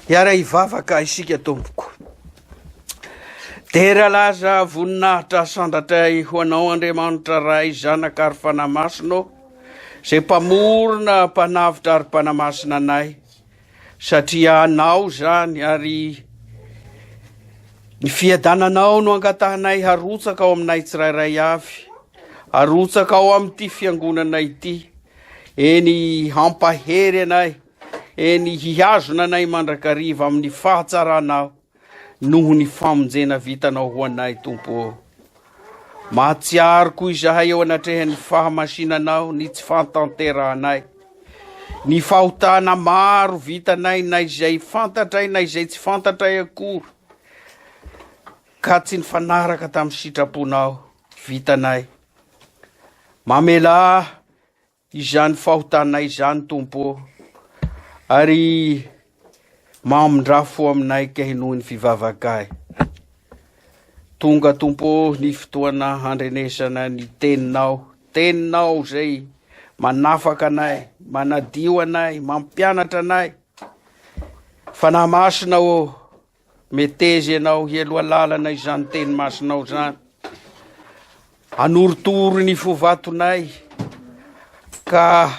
Hiara-hivavaka isika tompoko. Dera laza voninahitra sandratra ho anao Andriamanitra Ray Zanaka ary Fanahy Masina ô, izay mpamorona, mpanavotra ary mpanamasina anay, satria anao izany ary ny fiadananao no angatahanay harotsaka ao aminay tsirairay avy, harotsaka ao amin'ity fiangonana ity, eny hampahery anay, Eny, hihazona anay mandrakariva amin'ny fahatsaranao noho ny famonjena vitanao ho anay, Tompo ô. Mahatsiaro koa izahay eo anatrehan'ny fahamasinanao ny tsy fantanterahanay, ny fahotana maro vitanay na izay fantatray na izay tsy fantatray akory, ka tsy nifanaraka tamin'ny sitraponao vitanay. Mamelà izany fahotanay izany Tompo ô ary mamindra fo aminay kay noho ny fivavakay tonga Tompo ô ny fotoana handrenesana ny teninao teninao izay manafaka anay manadio anay mampianatra anay fanahy masina ô Meteza ianao hialoha lalana izany teny masinao izany. Anorotoro ny fo vatonay ka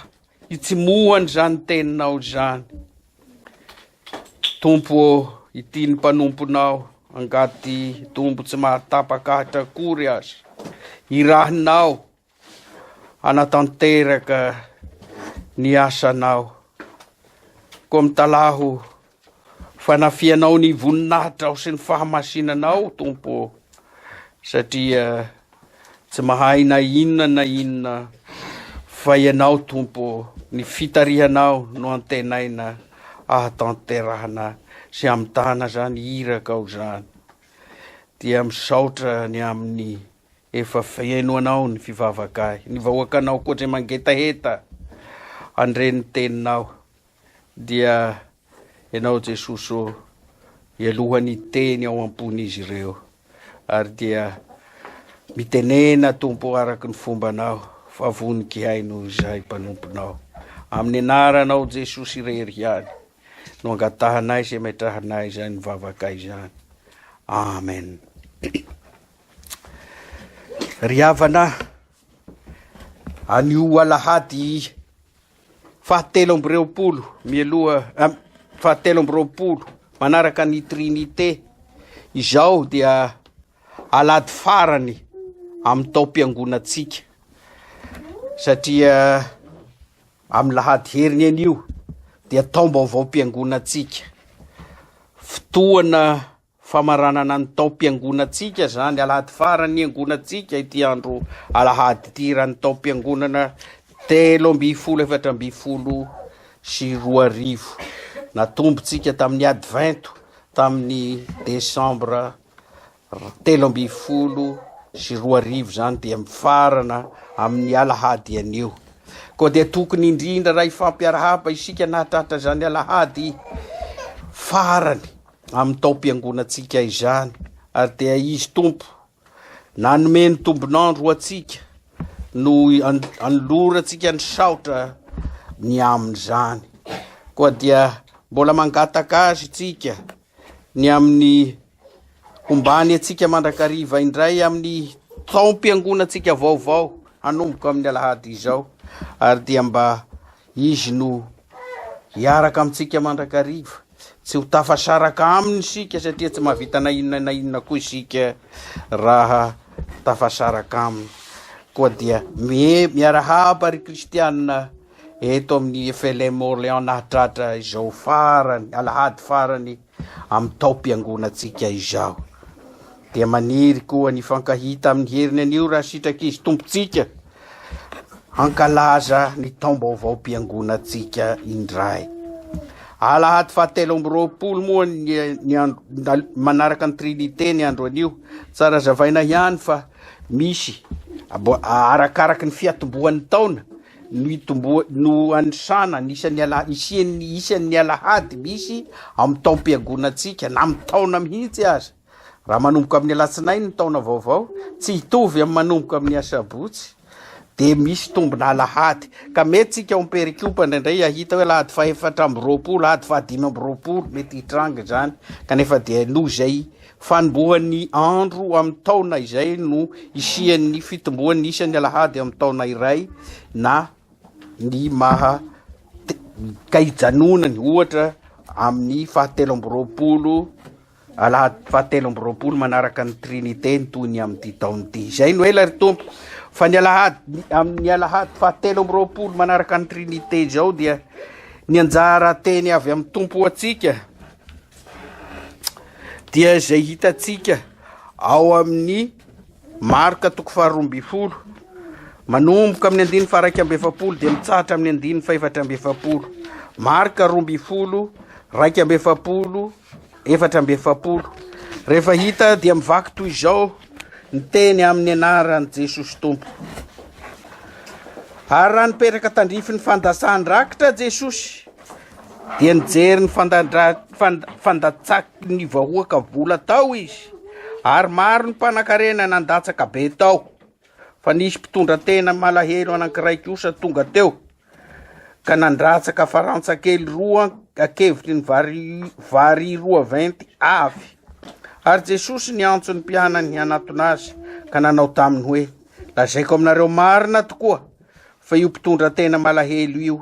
hitsimohany izany teninao izany. Tompo ô, ity ny mpanomponao, angady tombo tsy mahatapakahitra akory aza. Irahinao hanatanteraka ny asanao. Koa mitalaho fanafihanao ny voninahitrao sy ny fahamasinanao, Tompo, satria tsy mahay na inona na inona fa ianao Tompo ny fitarihanao no antenaina ahatanterahana sy hamitana zany irakao zany dia misaotra ny amin'ny Efa feno anao ny fivavakay ny vahoakanao koa dre mangetaheta andre ny teninao dia enao jesosy ô ialoha ny teny ao ampony izy ireo ary dia mitenena tompo araky ny fomba anao fa voniki hay noho izay mpanomponao amin'ny anaranao jesosy irery ihany no angatahanay sy ametrahanay izany vavakay izany amen Ry havana, anio alahady fahatelo amby roapolo mialoha ah, fahatelo amby roapolo manaraka ny Trinité izao dia alahady farany amin'ny taom-piangonantsika satria amin'ny lahady heriny anio dia taom-baovaom-piangonantsika fotoana Famaranana ny taom-piangonantsika izany, alahady farany niangonantsika ity andro alahady ity raha ny taom-piangonana telo ambin'ny folo efatra ambin'ny folo sy roa arivo. Natombontsika tamin'ny Advento tamin'ny desambra telo ambin'ny folo sy roa arivo izany dia mifarana amin'ny alahady anio. Koa dia tokony indrindra raha hifampiarahaba isika nahatratra izany alahady farany amin'ny taom-piangonantsika izany, ary dia Izy Tompo nanome ny tombon'andro ho antsika no anolorantsika ny saotra ny amin'izany. Koa dia mbola mangataka azy itsika ny amin'ny hombany antsika mandrakariva indray amin'ny taom-piangonantsika vaovao hanomboka amin'ny alahady izao, ary dia mba Izy no hiaraka amintsika mandrakariva. Tsy ho tafasaraka Aminy isika satria tsy mahavita na inona na inona koa isika raha tafasaraka Aminy. Koa dia miarahaba ry Kristianina eto amin'ny FLM Orléans nahatratra izao farany, alahady farany amin'ny taom-piangonantsika izao. Dia maniry koa ny fankahita amin'ny heriny anio raha sitrak'izy tompontsika. hankalaza ny taom-baovaom-piangonantsika indray. Alahady fahatelo amby roapolo moa ny andro manaraka ny Trinité ny andro anio. Tsara zavaina ihany fa misy arakaraky ny fiatombohan'ny taona no itomboa no anisana ny isan'ny ala isian'ny isan'ny alahady misy amin'ny taom-piangonantsika na amin'ny taona mihitsy aza. Raha manomboka amin'ny alatsinainy ny taona vaovao, tsy hitovy amin'ny manomboka amin'ny asabotsy, dia misy tombina alahady. Ka mety tsika ao Perikopa indraindray hahita hoe alahady fahefatra amby roapolo, alahady fahadimy amby roapolo, mety hitranga izany. Kanefa dia noho izay fanombohan'ny andro amin'ny taona izay no isian'ny fitomboan'ny isan'ny alahady amin'ny taona iray na ny maha ka hijanonany ohatra amin'ny fahatelo amby roapolo Alahady fahatelo amby roapolo manaraka ny Trinite ny toy ny amin'ity taona ity. Izay no ela ry Tompo fa ny alahady amin'ny alahady fahatelo amby roapolo manaraka ny Trinite izao dia ny anjara teny avy amin'ny Tompo ho antsika dia izay hitantsika ao amin'ny Marka toko faharoa ambin'ny folo manomboka amin'ny andininy faharaika amby efapolo dia mitsahatra amin'ny andininy fahefatra amby efapolo Marka roa ambin'ny folo raika amby efapolo Efatra amby efapolo. Rehefa hita dia mivaky toy izao ny teny amin'ny anaran'i Jesosy Tompo. Ary raha nipetraka tandrify ny fandasan-drakitra Jesosy dia nijery ny fandatsaky ny vahoaka vola tao izy ary maro ny mpanakarena nandatsaka be tao fa nisy mpitondra tena malahelo anankiray kosa tonga teo ka nandratsaka farantsa kely roa an-kevitry ny vary, vary roa venty avy. Ary Jesosy niantso ny mpianany hanatona azy, ka nanao taminy hoe, Lazaiko aminareo marina tokoa, fa io mpitondra tena malahelo io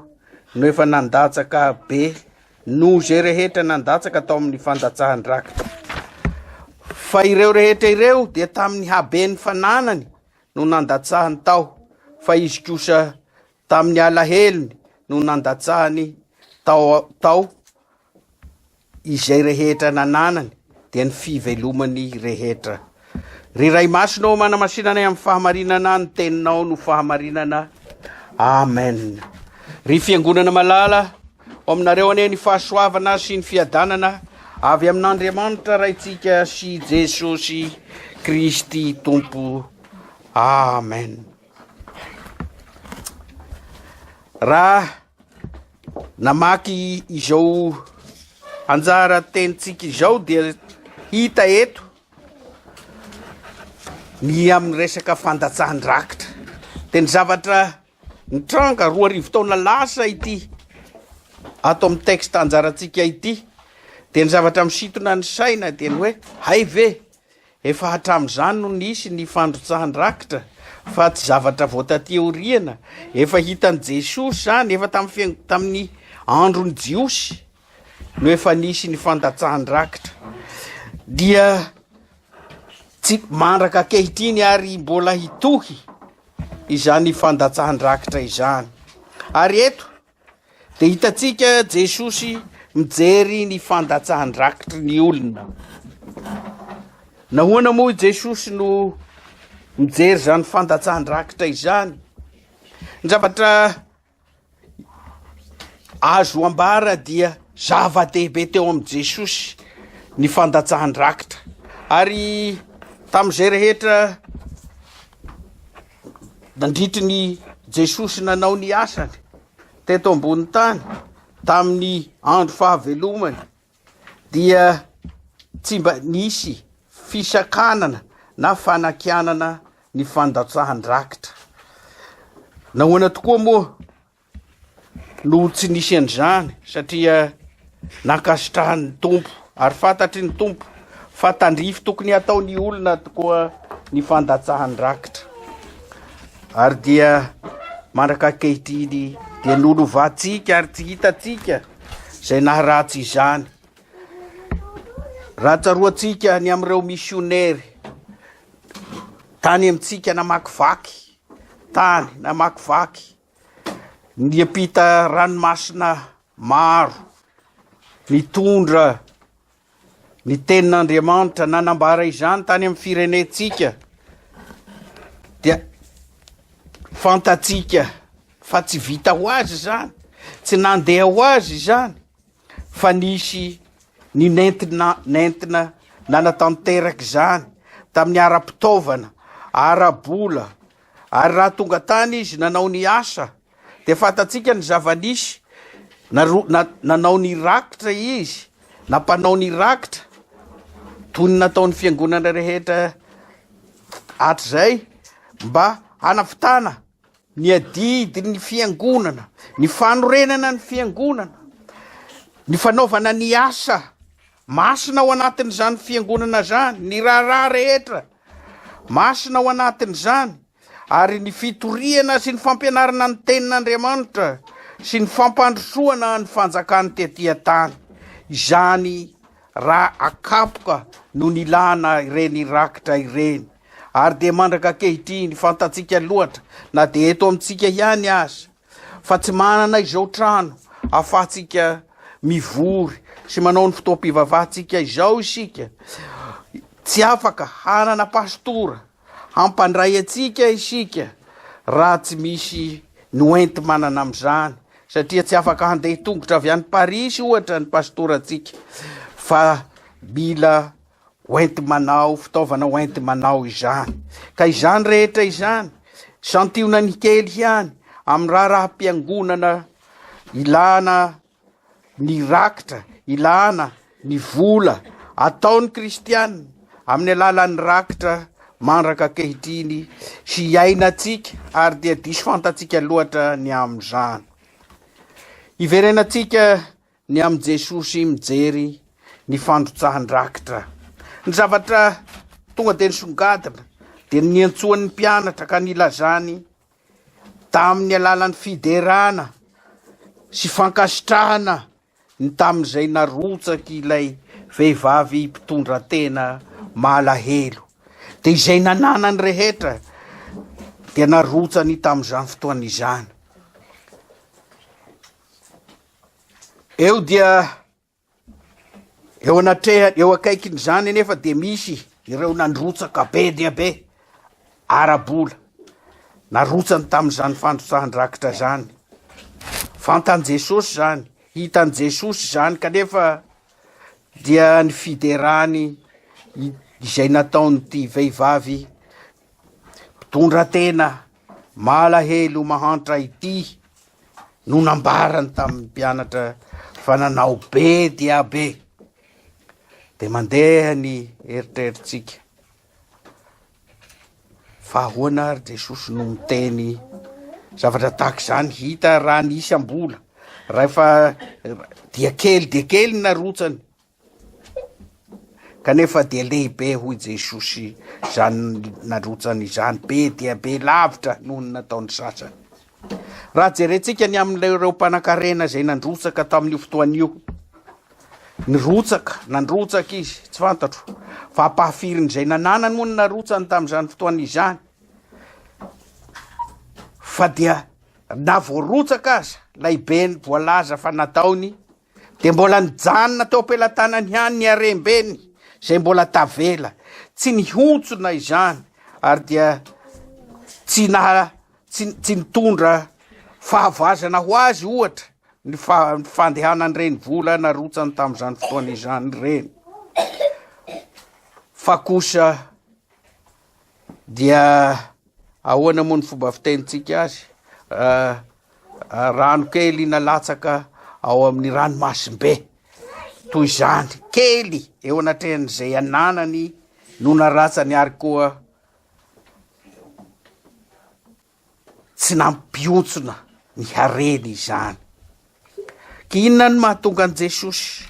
no efa nandatsaka be noho izay rehetra nandatsaka tao amin'ny fandatsahan-drakitra. Fa ireo rehetra ireo dia tamin'ny haben'ny fananany no nandatsahany tao fa izy kosa tamin'ny alahelony no nandatsahany tao, tao izay rehetra nananany dia ny fivelomany rehetra. Ry Ray Masina ô manamasinana amin'ny fahamarinana ny teninao no fahamarinana. Amen. Ry fiangonana malala, Ho aminareo anie ny fahasoavana sy ny fiadanana avy amin'Andriamanitra Raintsika sy Jesosy Kristy Tompo. Amen. Raha namaky izao anjara tenintsika izao dia hita eto ny amin'ny resaka fandatsahan-drakitra. Dia ny zavatra Nitranga roa arivo taona lasa ity ato amin'ny texte anjarantsika ity dia ny zavatra misintona ny saina dia ny hoe hay ve efa hatramin'izany no nisy ny fandrotsahan-drakitra fa tsy zavatra vao taty aoriana, efa hitan'i Jesosy izany efa tamin'ny tamin'ny andron'ny Jiosy no efa nisy ny fandatsahan-drakitra dia Tsy mandraka ankehitriny ary mbola hitohy izany fandatsahan-drakitra izany. Ary eto dia hitantsika Jesosy mijery ny fandatsahan-drakitry ny olona. Nahoana moa i Jesosy no mijery izany fandatsahan-drakitra izany? Ny zavatra Azo ambara dia zava-dehibe teo amin'i Jesosy ny fandatsahan-drakitra. Ary tamin'izay rehetra nandritry ny Jesosy nanao ny asany teto ambony tany tamin'ny andro fahavelomany, dia tsy mba nisy fisakanana na fanakianana ny fandatsahan-drakitra. Nahoana tokoa moa no tsy nisy an'izany satria nankasitrahan'ny Tompo ary fantatry ny Tompo fa tandrify tokony hataon'ny olona tokoa ny fandatsahan-drakitra. Ary dia mandraka ankehitriny dia nolovantsika ary tsy hitantsika izay naharatsy izany. Raha tsaroantsika ny amin'ireo misionery tany amintsika namakivaky tany namakivaky niampita ranomasina maro nitondra Ny Tenin'Andriamanitra nanambara izany tany amin'ny firenentsika, dia fantatsika fa tsy vita ho azy izany, tsy nandeha ho azy izany, fa nisy ny nentina, nentina nanatanteraka izany tamin'ny ara-pitaovana, ara-bola, ary raha tonga tany izy nanao ny asa, Dia fantatsika ny zava-nisy, na, na, nanao ny rakitra izy, na mpanao ny rakitra, toy ny nataon'ny fiangonana rehetra hatrizay, mba hanavotana ny adidy ny fiangonana, ny fanorenana ny fiangonana, ny fanaovana ny asa Masina ao anatin'izany Fiangonana izany ny raharaha rehetra, masina ao anatin'izany ary ny fitoriana sy ny fampianarana ny Tenin'Andriamanitra sy ny fampandrosoana ny fanjakany tetỳ an-tany. Izany raha akapoka no nilana ireny rakitra ireny, ary dia mandraka ankehitriny fantatsika loatra na dia eto amintsika ihany aza. Fa tsy manana izao trano ahafahantsika mivory sy manao ny fotoam-pivavahantsika izao isika. Tsy afaka hanana pastora hampandray antsika isika raha tsy misy noenti-manana amin'izany, satria tsy afaka handeha tongotra avy any Parisy ohatra ny pastorantsika fa mila hoenti-manao, fitaovana hoenti-manao izany. Ka izany rehetra izany, santionany ny kely ihany amin'ny raharaham-piangonana ilana ny rakitra, ilana ny vola ataon'ny kristianina amin'ny alalan'ny rakitra mandraka ankehitriny sy iainantsika ary dia diso fantatsika loatra ny amin'izany. Hiverenantsika Ny amin'i Jesosy mijery ny fandrotsahan-drakitra. Ny zavatra tonga dia nisongadina dia ny niantsoany ny mpianatra ka nilazany tamin'ny alalan'ny fiderana sy fankasitrahana ny tamin'izay narotsaky ilay vehivavy mpitondra tena malahelo. Dia izay nananany rehetra dia narotsany tamin'izany fotoana izany. Eo dia eo anatreha eo akaikin'izany anefa dia misy ireo nandrotsaka be dia be ara-bola narotsany tamin'izany fandrotsahan-drakitra izany. Fantan'i Jesosy izany, hitan'i Jesosy izany kanefa dia ny fiderany izay nataon'ity vehivavy Mpitondra tena malahelo ho mahantra ity no nambarany tamin'ny mpianatra fa nanao be dia be. Dia mandeha ny eritreritsika. Fa ahoana ary Jesosy no miteny zavatra tahaka izany hita raha nisy ambola. Rahefa dia kely dia kely narotsany Kanefa dia lehibe hoy Jesosy izany narotsany izany, be dia be lavitra noho ny nataon'ny sasany. Raha jerentsika ny amin'ireo mpanankarena izay nandrotsaka tamin'io fotoana io, nirotsaka, nandrotsaka izy, tsy fantatro, fa ampahafirin'izay nananany moa ny narotsany tamin'izany fotoana izany, fa dia na voarotsaka aza, ilay be ny voalaza fa nataony, Dia mbola nijanona teo am-pelatanany ihany ny harem-beny izay mbola tavela. Tsy nihontsona izany ary dia tsy naha tsy, tsy nitondra fahavoazana ho azy ohatra ny fa, fandehanan'ireny vola narotsany tamin'izany fotoana izany ireny. Fa kosa dia ahoana moa ny fomba fitenintsika azy? Uh, Rano kely nalatsaka ao amin'ny ranomasimbe toy izany, kely eo anatrehan'izay ananany no naratsany ary koa tsy nampiontsona ny hareny izany. Inona no mahatonga an'i Jesosy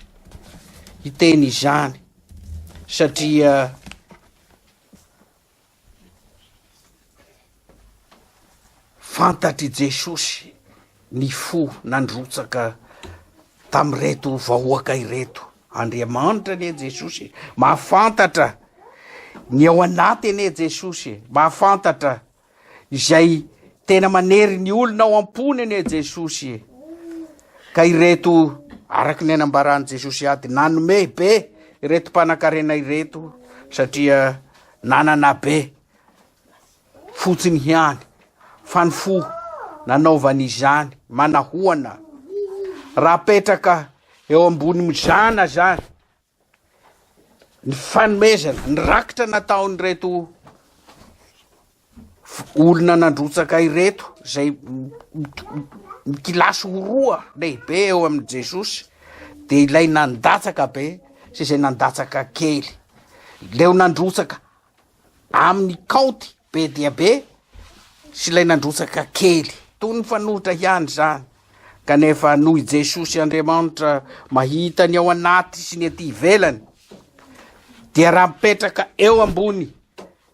hiteny izany? Satria Fantatr'i Jesosy ny fo nandrotsaka tamin'ireto vahoaka ireto. Andriamanitra anie Jesosy e, mahafantatra ny ao anaty anie Jesosy e, mahafantatra izay tena manery ny olona ao am-pony anie Jesosy e. Ka ireto araka ny anambaran'i Jesosy ady nanome be ireto mpanan-karena ireto satria nanana be fotsiny ihany fa ny fo nanaovany izany manahoana raha petraka eo ambony mizana zany ny fanomezana ny rakitra nataon'ireto olona nandrotsaka ireto izay mikilasy ho roa lehibe eo amin'i Jesosy dia ilay nandatsaka be sy izay nandatsaka kely. Leo nandrotsaka amin'ny kaonty be dia be sy ilay nandrotsaka kely. Toy ny fanohitra ihany izany. Kanefa noho i Jesosy Andriamanitra mahita ny ao anaty sy ny ety ivelany dia raha mipetraka eo ambony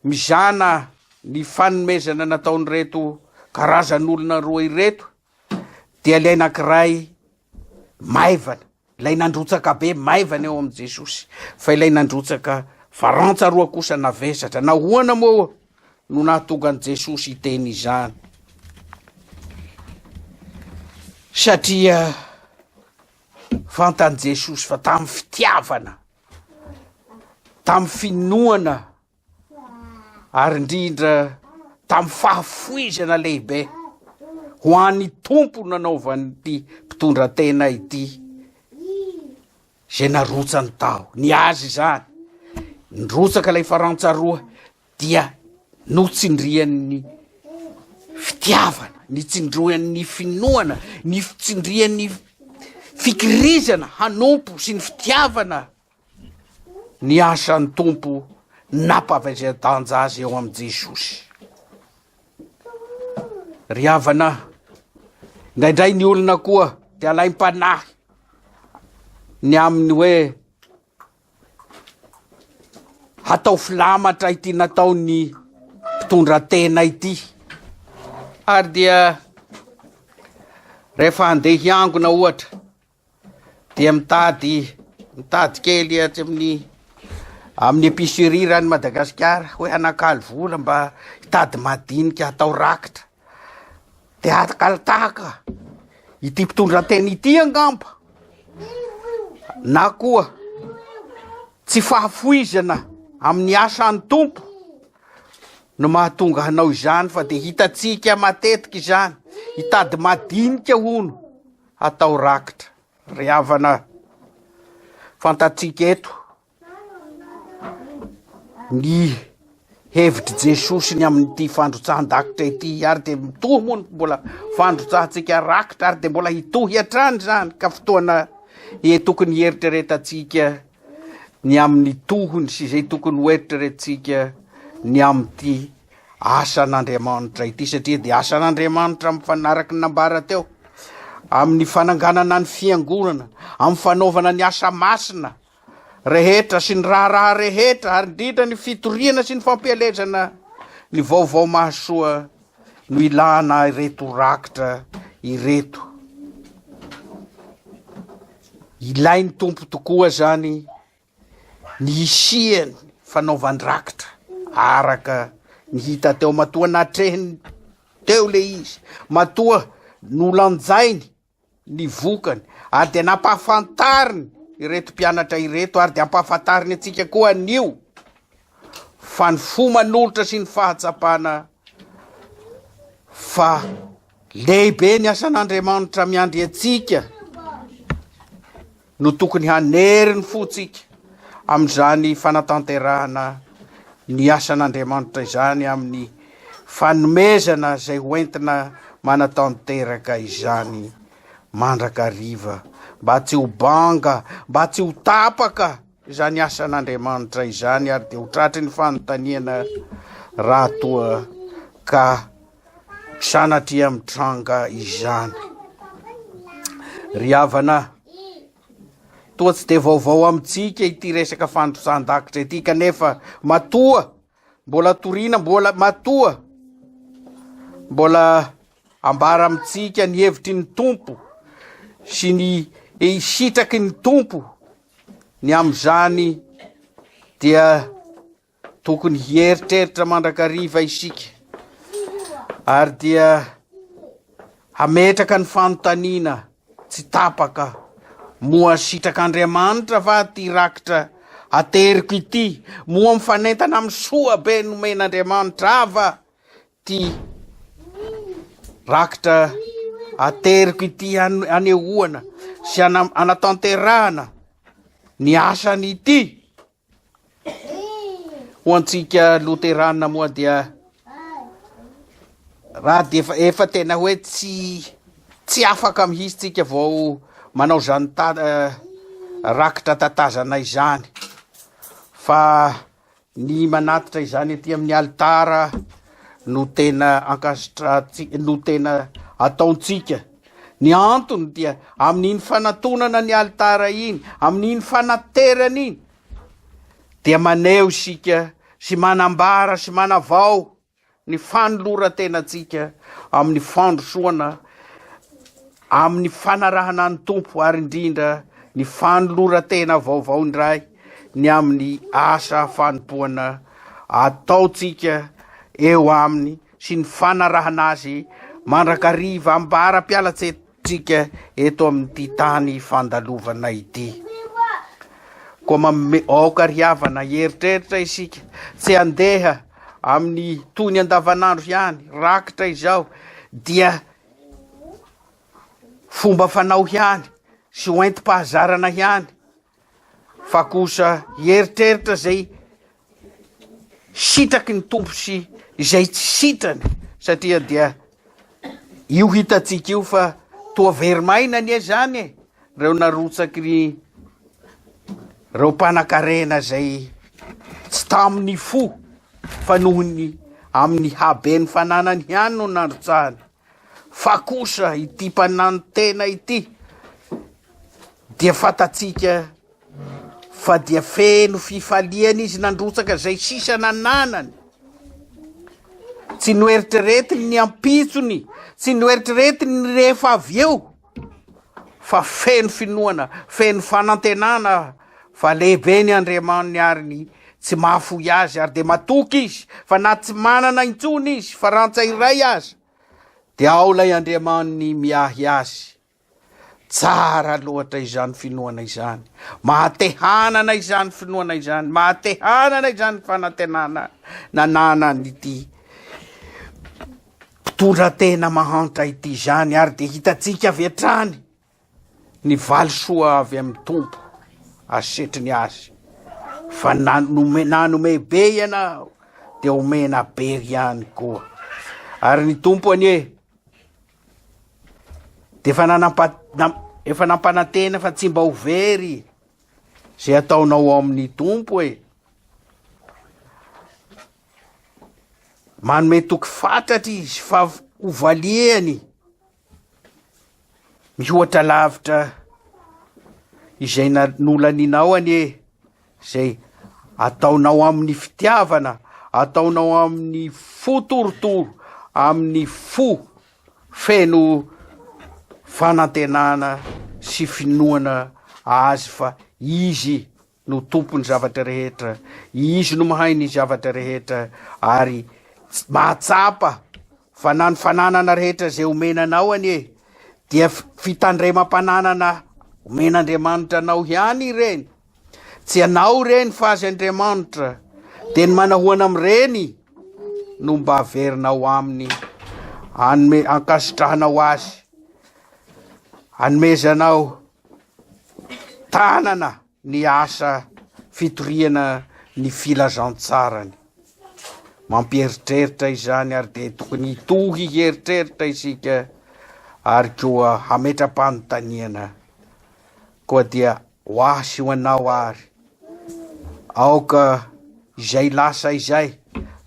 Mizana ny fanomezana nataon'ireto karazan'olona roa ireto dia ilay anankiray maivana, ilay nandrotsaka be maivana eo amin'i Jesosy, fa ilay nandrotsaka farantsa roa kosa navesatra. Nahoana moa no nahatonga an'i Jesosy hiteny izany? Satria fantan'i Jesosy fa tamin'ny fitiavana tamin'ny finoana ary indrindra tamin'ny fahafoizana lehibe ho an'ny tompo nanaovan'ity mpitondra tena ity izay narotsany tao ny azy izany nyrotsaka ilay farantsaroa dia notsindrian'ny fitiavana, nitsindroan'ny finoana, nitsindrian'ny fikirizana hanompo sy ny fitiavana ny asan'ny Tompo nampavezan-danja azy eo amin'i Jesosy. Ry havana, indraindray ny olona koa dia alaim-panahy ny amin'ny hoe Hatao filamatra ity nataon'ny mpitondra tena ity. Ary dia rehefa handeha hiangona ohatra dia mitady mitady kely atsy amin'ny amin'ny epicerie rany Madagasikara hoe hanakalo vola mba hitady madinika hatao rakitra. de adagaly tahaka ity mpitondratena ity angamba na koa tsy fahafoizana amin'ny asa any tompo no mahatonga hanao izany fa de hitatsika matetika izany hitady madinika hono atao rakitra ry havana fantatsika eto Ny hevitr'i Jesosy ny amin'ity fandrotsahan-dakitra ity ary dia mitohy moa ny mbola fandrotsahantsika rakitra ary dia mbola hitohy hatrany izany ka fotoana e tokony hieritreretantsika ny amin'ny tohony sy izay tokony ho eritreretintsika ny amin'ity asan'Andriamanitra ity satria dia asan'Andriamanitra amin'ny fanaraka nambara teo amin'ny fananganana ny fiangonana amin'ny fanaovana ny asa masina rehetra sy ny raharaha rehetra ary indrindra ny fitoriana sy ny fampielezana ny vaovao mahasoa no ilana ireto rakitra ireto. Ilain'ny tompo tokoa zany ny hisiany fanaovan-drakitra araka ny hita teo matoa natrehin teo le izy matoa nolanjainy ny vokany ary dia nampahafantariny ireto mpianatra ireto ary dia ampahafantariny antsika koa anio fa ny fo manolotra sy ny fahatsapana fa lehibe ny asan'Andriamanitra miandry antsika no tokony hanery ny fontsika amin'izany fanatanterahana ny asan'Andriamanitra izany amin'ny fanomezana izay hoentina manatanteraka izany mandrakariva mba tsy ho banga, mba tsy ho tapaka izany asan'Andriamanitra izany ary dia ho tratry ny fanontaniana raha toa ka Sanatria mitranga izany ry havana a! Toa tsy dia vaovao amintsika ity resaka fandrosan-dakitra ity kanefa matoa mbola toriana mbola matoa mbola ambara amintsika ny hevitry ny tompo sy ny sitraky ny tompo ny amin'izany dia Tokony hieritreritra mandrakariva isika ary dia hametraka ny fanontaniana tsy tapaka moa sitrak'Andriamanitra va ity rakitra ateriko ity? Moa mifanentana amin'ny soa be nomen'Andriamanitra ahy va ity rakitra ateriko ity anehoana sy anatanterahana ny asany ity? Ho antsika loterana moa dia raha dia efa, efa tena hoe tsy tsy afaka mihitsy tsika vao manao izany ta, eh, rakitra tatazana izany fa ny manatitra izany aty amin'ny alitara no tena ankasitrantsika no tena ataontsika Ny antony dia amin'iny fanatonana ny alitara iny, amin'iny fanaterana iny dia maneho isika sy manambara sy manavao ny fanoloran-tenantsika amin'ny fandrosoana amin'ny fanarahana ny Tompo ary indrindra ny fanoloran-tena vaovao indray ny amin'ny asa fanompoana ataontsika eo aminy sy ny fanarahana azy mandrakariva ambara-pialantseditrika eto amin'ity tany fandalovana ity. Koa mamme aoka ry havana hieritreritra isika, tsy handeha amin'ny toy ny andavanandro ihany, rakitra izao dia fomba fanao ihany sy hoentim-pahazarana ihany fa kosa hieritreritra izay sitraky ny tompo sy izay tsy sitrany satria dia io hitantsika io fa toa verimaina anie izany e reo narotsaky ny reo mpanakarena izay tsy tamin'ny fo fa nohony amin'ny haben'ny fananany ihany no narotsahany Fa kosa ity mpananontena ity dia fantatsika fa dia feno fifaliana izy nandrotsaka izay sisa nananany. Tsy noeritreretiny ny ampitsony, tsy noeritreretiny ny rehefa avy eo. fa feno finoana, feno fanantenana fa lehibe ny Andriamaniny ary ny tsy mahafoy azy ary dia matoky izy fa na tsy manana intsony izy fa rantsa iray aza dia ao ilay Andriamaniny miahy azy. Tsara loatra izany finoana izany. Mahatehanana izany finoana izany, mahatehanana izany fanantenana nananan'ity mpitondra tena mahantra ity izany ary dia hitantsika avy hatrany ny valisoa avy amin'ny tompo asetry ny azy fa nanome nanome be ianao dia omena be ihany koa ary ny tompo anie dia efa nanampa efa nampanantena fa tsy mba ho very izay ataonao ao amin'ny tompo e Manome toky fatratra izy fa hovaliany mihoatra lavitra izay nolaninao anie izay ataonao amin'ny fitiavana, ataonao amin'ny fo torotoro, amin'ny fo feno fanantenana sy finoana azy fa izy no tompony zavatra rehetra, Izy no mahay ny zavatra rehetra ary mahatsapa fa na ny fananana rehetra izay omena anao anie dia fitandremam-pananana omen'Andriamanitra anao ihany ireny. Tsy anao ireny fa azy Andriamanitra. Dia ny manahoana amin'ireny no mba averinao aminy, anome ankasitrahanao azy, anomezanao tanana ny asa fitoriana ny filazantsarany. Mampieritreritra izany ary dia tokony hitohy hieritreritra isika ary koa hametra-panontaniana koa dia ho ahy sy ho anao ary Aoka izay lasa izay,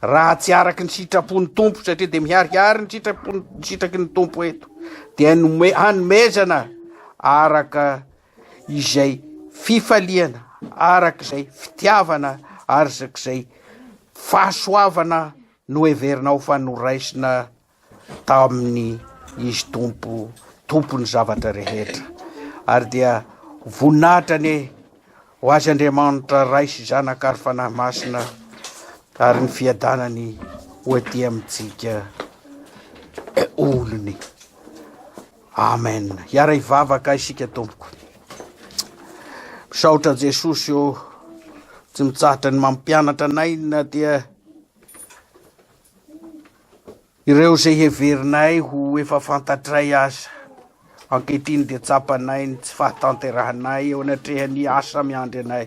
raha tsy araka ny sitrapon'ny Tompo, satria dia miharihary ny sitrapon'ny ny sitraky ny Tompo eto, dia nome, hanomezana araka izay fifaliana, araka izay fitiavana, araka izay fahasoavana noheverinao fa noraisina taminy izy tompo tompony zavatra rehetra ary dia voninahitra anie ho azy Andriamanitra Ray sy Zanaka ary Fanahy Masina ary ny fiadanany ho aty amintsika olony Amen hiara hivavaka isika tompoko misaotra Jesosy o tsy mitsahatra ny mampianatra anay na dia Ireo izay heverinay ho efa fantatray aza, ankehitriny dia tsapanay ny tsy fahatanterahanay eo anatrehan'ny asa miandry anay.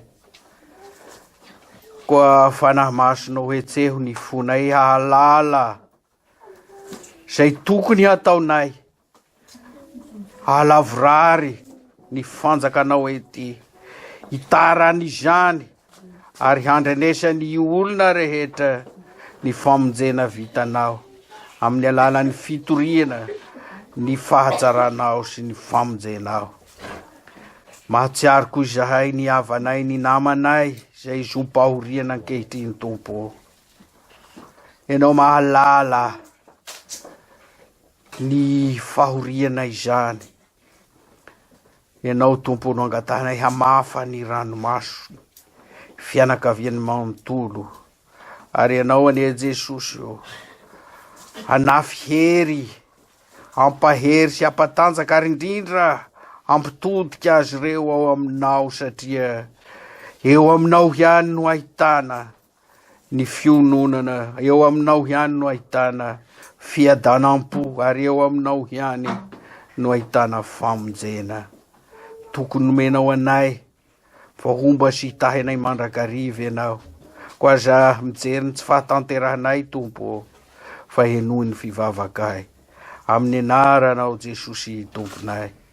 Koa Fanahy Masonao hetseho ny fonay hahalala izay tokony hataonay Aho lavorary ny fanjakanao ety Itaran'izany, ary handrenesan'ny olona rehetra ny famonjena vitanao, amin'ny alalan'ny fitoriana ny fahajaranao sy ny famonjenao. Mahatsiaro koa izahay ny havanay, ny namanay izay zom-pahoriana ankehitriny, Tompo ô. Ianao mahalala. Ny fahoriana izany. Ianao Tompo no angatahinay hamafa ny ranomaso ny fianakaviany manontolo ary Ianao anie Jesosy ô hanafy hery hampahery sy hampatanjaka ary indrindra hampitodika azy ireo ao Aminao satria eo Aminao ihany no ahitana Ny fiononana eo aminao ihany no ahitana fiadanam-po ary eo aminao ihany no ahitana famonjena. Tokony nomenao anay vao homba sy hitahinay mandrakariva ianao. Koa aza mijery ny tsy fahatanterahanay, Tompo ô, fa henoy ny fivavakay. Amin'ny anaranao Jesosy Tomponay.